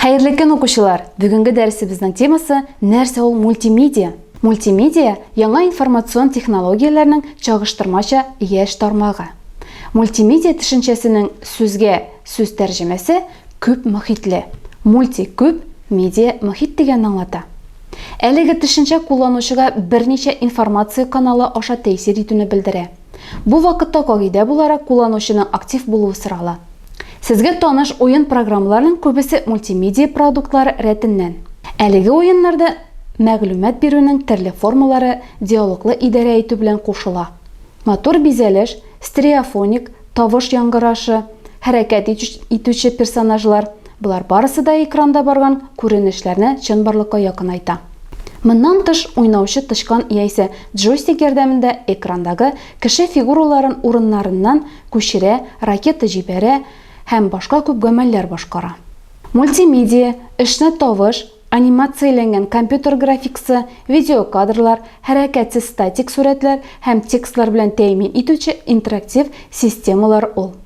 Хәерле көн, укучылар! Бүгенге дәресебезнең темасы нәрсә ул мультимедиа? Мультимедиа яңа информацион технологияләрнең чагыштырмача яшь тармагы. Мультимедиа төшенчәсенең сүзгә сүз тәрҗемәсе күп мохитле. Мульти күп, медиа мохит дигәнне аңлата. Әлеге төшенчә кулланучыга берничә информация каналы аша тәэсир итүне белдерә. Бу вакытта кагыйдә буларак кулланучының актив булуы сорала. Сезгә таныш уен программаларының күбесе мультимедия продуктлары рәтеннән. Әлеге уеннарда мәгълүмат бирүнең төрле формалары диалоглы идарә итү белән кушыла. Матур бизәлеш, стереофоник, тавыш яңгырашы, хәрәкәт итүче персонажлар, Болар барысы да экранда барган күренешләрне чынбарлыкка якынайта. Моннан тыш, уйнаучы тычкан яисә джойстик ярдәмендә экрандагы кеше фигураларын урыннарыннан күчерә, ракета җибәрә һәм башка күп гамәлләр башкара. Мультимедия, эшне тавыш, анимацияләнгән компьютер графикасы, видеокадрлар, хәрәкәтсез статик сурәтләр һәм текстлар белән тәэмин итүче интерактив системалар ул.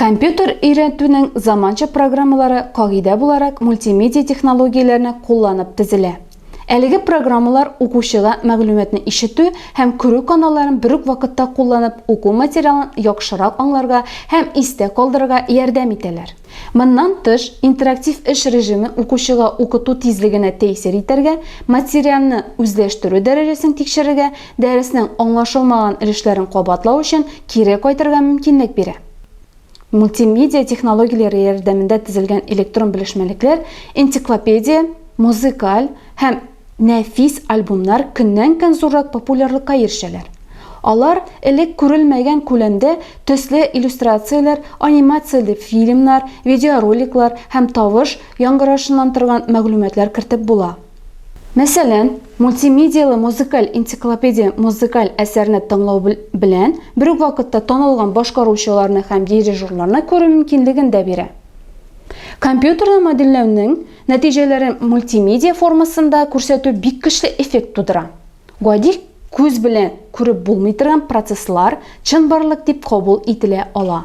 Компьютер өйрәтүнең заманча программалары кагыйдә буларак мультимедиа технологияләрне кулланып төзелә. Әлеге программалар укучыга мәгълүматны ишетү һәм күрү каналларын бер үк вакытта кулланып уку материалын яхшырак аңларга һәм истә калдырырга ярдәм итәләр. Моннан тыш, интерактив эш режимы укучыга укыту тизлегенә тәэсир итәргә, материалны үзләштерү дәрәҗәсен тикшерергә, дәреснең аңлашылмаган өлешләрен кабатлау өчен кире кайтырга мөмкинлек бирә. Мультимедиа технологияләре ярдәмендә төзелгән электрон белешмәлекләр энциклопедия, музыкаль һәм. Нәфис альбомнар көннән-көн зуррак популярлыкка ирешәләр. Алар элек күрелмәгән күләмдә төсле иллюстрацияләр, анимацияле фильмнар, видеороликлар һәм тавыш яңгырашыннан торган мәгълүматлар кертеп була. Мәсәлән, мультимедияле музыкаль энциклопедия музыкаль әсәрне тыңлау белән бер үк вакытта танылган башкаручыларны һәм дирижерларны күрү мөмкинлеген дә бирә. Компьютерда модельләүнең Нәтиҗәләрен мультимедиа формасында күрсәтү бик көчле эффект тудыра. Гади күз белән күреп булмый торган процесслар чынбарлык дип кабул ителә ала.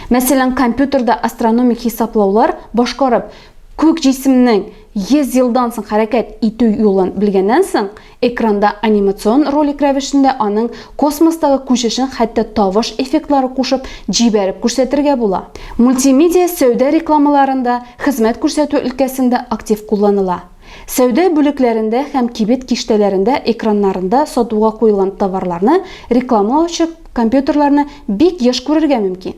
Мәсәлән, компьютерда астрономик хисаплаулар башкарып, күк җисемнең 100 елдан соң хәрәкәт итү юлын белгәннән соң, Экранда анимацион ролик рәвешендә аның космостагы күчешен хәтта тавыш эффектлары кушып, җибәреп күрсәтергә була. Мультимедиа сәүдә рекламаларында, хезмәт күрсәтү өлкәсендә актив кулланыла. Сәүдә бүлекләрендә һәм кибет киштәләрендә экраннарында сатуга куелган товарларны рекламалаучы компьютерларны бик еш күрергә мөмкин.